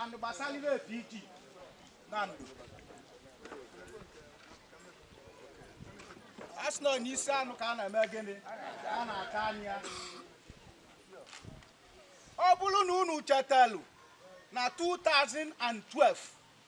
and gbasara ive PG Nando a sị na ọ n'isi anụ ka a na-eme gịnị ka a na-ata anyị ya ọ bụrụ na unu chetalụ na 2012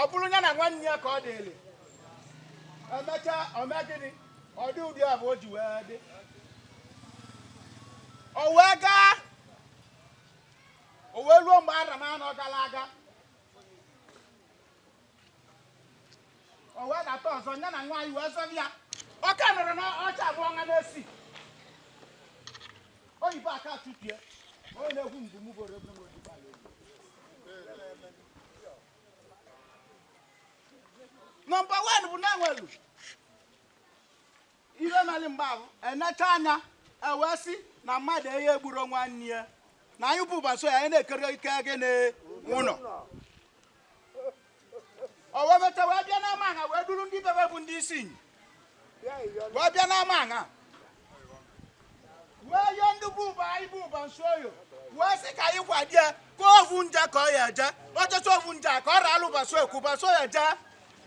ọ bụrụ ya na nwanne ya ka ọ dịrị emechaa o mee gịnị ọ dị ụdị ahụ o ji wee dị o wee gaa o wee ruo mgbe arọ anọ gara aga o wee data ọzọ ya na nwa anyị wee zọrọ ya ọka nọrọ n'oche abụọ nwa na-esi oyibo aka tụpie onye na-egwu mgbu mụ bụrụ egwu n'oji bala egwu nọmba wan bụ na-enwelu ihe mere mgbe ahụ enecha anya ewee sị na mmadụ eyi egburu nwanne ya na anyị bụ Ubanisioye anyị na-ekere ike gịnị ụlọ o wee meta wee bịa n'ama aṅa wee duru ndị Abube bụ ndị Isinyi wee bịa n'ama aṅa wee yọọ ndị bụ ụba anyị bụ Ubanisioye wee sị ka anyị kwadie ka ovu nje ka ọ ya eje ọchọchọ ovu nje a ka ọ raalụ baso ekwu Ubanisioye jee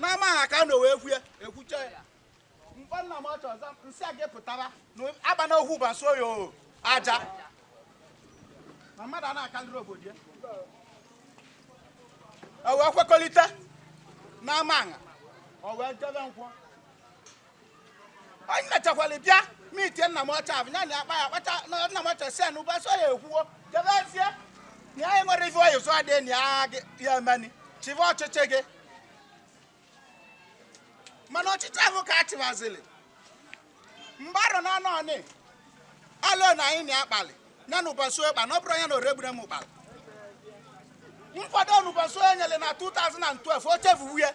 n'ama ha ka na wee kwue ekwucha ya mkpọ nna m ọchọ ọzọ nsị a ga-epụtara na agba na okwu Ubanisioye o aja na mmadụ a na-akalịrị obodo ya o wee kwekọrịta n'ama aṅa o wee jebe nkwọ anyị mechakwara bịa mitie nna m ọcha ahụ ya na akpa ya kpacha na nna m ọcha si ya na Ubanisioye ekwuo jebezie na anyị nwere ife ọyị zụọ dị na ya gị- ya emeni chịba ọchịchị gị mana ọchịchị ahụ ka a chịbaziri mgbarụ na anọ ọnị alụ na anyị na akpalị ya na Ubanisioye kpalị na ọ bụrụ ya na oregbure m ụkpalị nkwado na Ubanisioye nyere na 2012 o chefuwu ya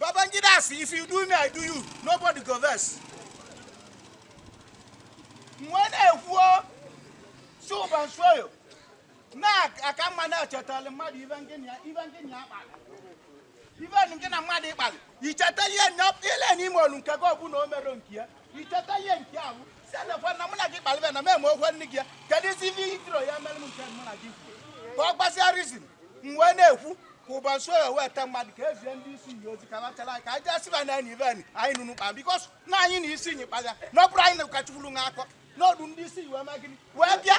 Babangida asị if you do me I do you nobody go vex m wee na-ekwu sị Ubanisioye na ọ ka mma na-echetala mmadụ ive ngị na ya ive ngị na ya kpara ive ngị na mmadụ kpalị icheta ihe ile n'ime olu nke gị ọbụla o mere nke ya icheta ihe nke ahụ si anakwa na mụ na gị kpalịba na m eme okwe nne gị ya kedu isi ihe i jirọ ya mere m nke mụ na gị kwuo ka ọ gbasịa reason m wee na-ekwu ka Ubanisioye wee te mmadụ ka ezie ndị Isinyi ozi ka bachara anyị ka anyị jee siba na enyi ibe anyị anyị nụnụ kpa bikos na anyị na Isinyi kpalịa na ọ bụrụ anyị na ụkọchukwu nwe akọ n'ọdụ ndị Isinyi wee mee gịnị wee bịa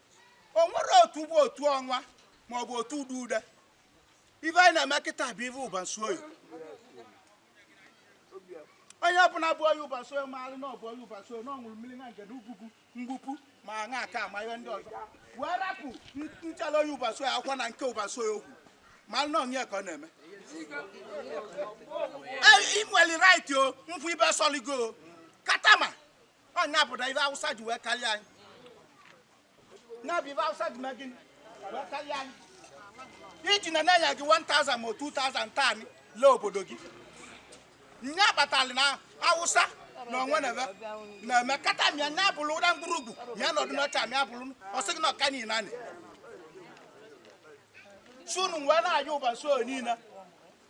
o nwere otu bụ otu ọnwa ma ọ bụ otu ude ude ife anyị na-eme kịta bụ ife ụbansuoyi onye ọbụla bụ onye ụbansuoyi maara na ọ bụ onye ụbansuoyi na ọ ṅụrụ mmiri na ngene ugwugwu mgbupụ ma aṅa aka ama ihe ndị ọzọ wee rapụ nchala onye ụbansuoyi akwụkwọ na nke ụbansuoyi okwu ma nọ onye ka ọ na-eme ị nwere right ikwu ive sọligo katama ọ nya bụ na ive awụsa ji wee karịa anyị na bụ ive awụsa ji mee gịnị wee karịa anyị iji na-enye gị 1000 ma 2000 taa anyị lee obodo gị nya kpatara na awụsa na o nwe ive na-eme kata mịa nya bụrụ ụra mkpụrụ ugwu mịa nọdụ n'ọcha mịa bụrụ ọ sị gị na oke niile anyị sị unu nwee na-anya ụbansuoyi niile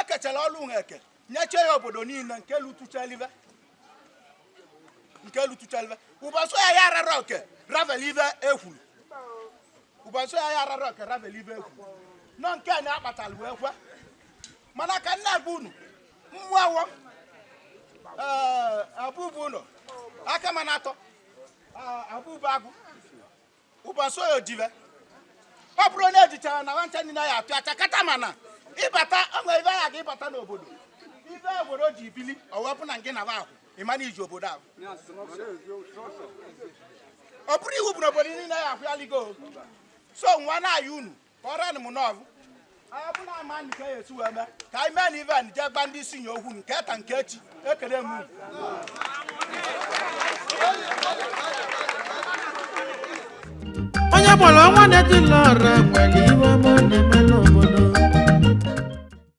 e kechara ọrụ ha e kenyecha ya obodo niile nke lutuchalive nke lutuchalive ụbansuoyi arara oke ravel ive ekwuru ụbansuoyi arara oke ravel ive ekwuru nọ nke a na-akpatara wee kwe mana ka m na-agwa unu mmụọ awọ ee abụbụ ụlọ aka mana atọ abụbụ agụ ụbansuoyi dibe ọ bụrụ onye ejichara na nwancha ndị na ya atụ acha kata mana ịbata o nwe ive agha gị ịbata n'obodo ive obodo ji bili ọwepụ na nke na ba ahụ ịma na iji obodo ahụ ọ bụrụ iwu bụ na obodo niile ya ahụ ya ligo so nwa na-ayị unu kọrọ m n'ọbụ ọ bụla ama nụ ka e si wee mee ka anyị mee na ive a jee gba ndị isi nye okwu nke ta nke echi ekele m unu. onye gbara ọnwa na-etili ọra nwere ive ọma ọ na-eme n'obodo